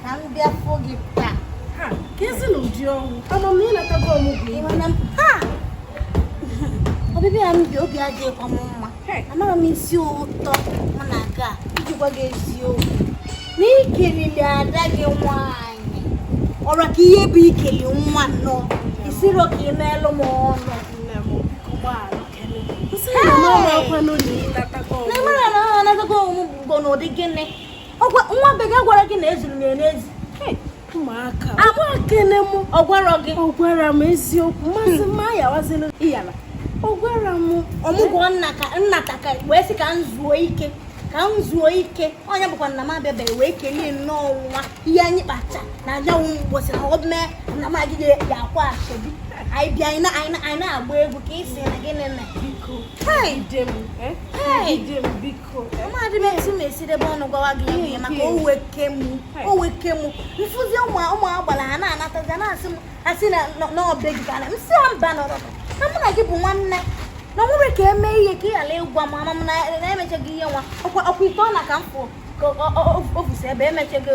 ka m bịa fụ gị taa ka ezi na ụdị ọnwụ ama m na ịnatago ọmụgwọ iwe na ọbịbịa m bịa obi adịghịkwa m mma amaghị m asị ụtọ mụ na aga iji gwa gị eziokwu na ikelili ada gị nwaanyị ọra ka ihe bụ ikele nwa nnọọ ị sirọ ka i meelụ m ọnụ na mara na ọ na-agago ọmụgwọ n'ụdị gịnị nwa be gị gwara gị na ezuru m ya n'ezi ụmụaka amakene m ọ gwara gị ọ gwara m eziokwu maazị mma ya waziri iyala ọ gwara m ọmụgwọ m nata ka m wee sị ka m zuo ike ka m zuo ike onye bụ ka na m abịabeghị wee kelee nnọọ nwa ihe anyị kpata na anyanwụ mgbosi na ọ mee nna m agịghị ya akwa asobi anyị bịa anyị na-agba egwu ka ị si na gịnị na biko amadị m etu m esi debe ọnụ gwawa gị ya ihe maka o weke m o weke m m fụzi ụmụ ụmụ agbara ha na-anatazi a na-asị m asị na be gị ka na m si ha mba nọrọ na mụ na gị bụ nwanne na ọ nwere ka e mee ihe ka ị ghara ịgwa m ama m na emechaghị ihe nwa ọkwa ite ọ na ka m fụ ka o fusi ebe emechaghị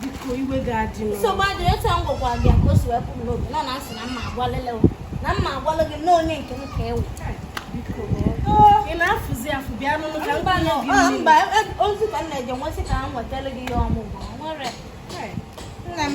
biko iwe ga-adị nsogbu adịrị otu a m gwakwa gị ka o si wepụ m n'obi nọ na m sị na mma agwalele na mma agwalụ gị na onye nke m ka ị bụ ị na-afụzi afụ bịa n'ụlọ ka mba mba e, ozi ka m na-eje m wee sị ka m wetara gị ihe ọmụgwọ nwere nna m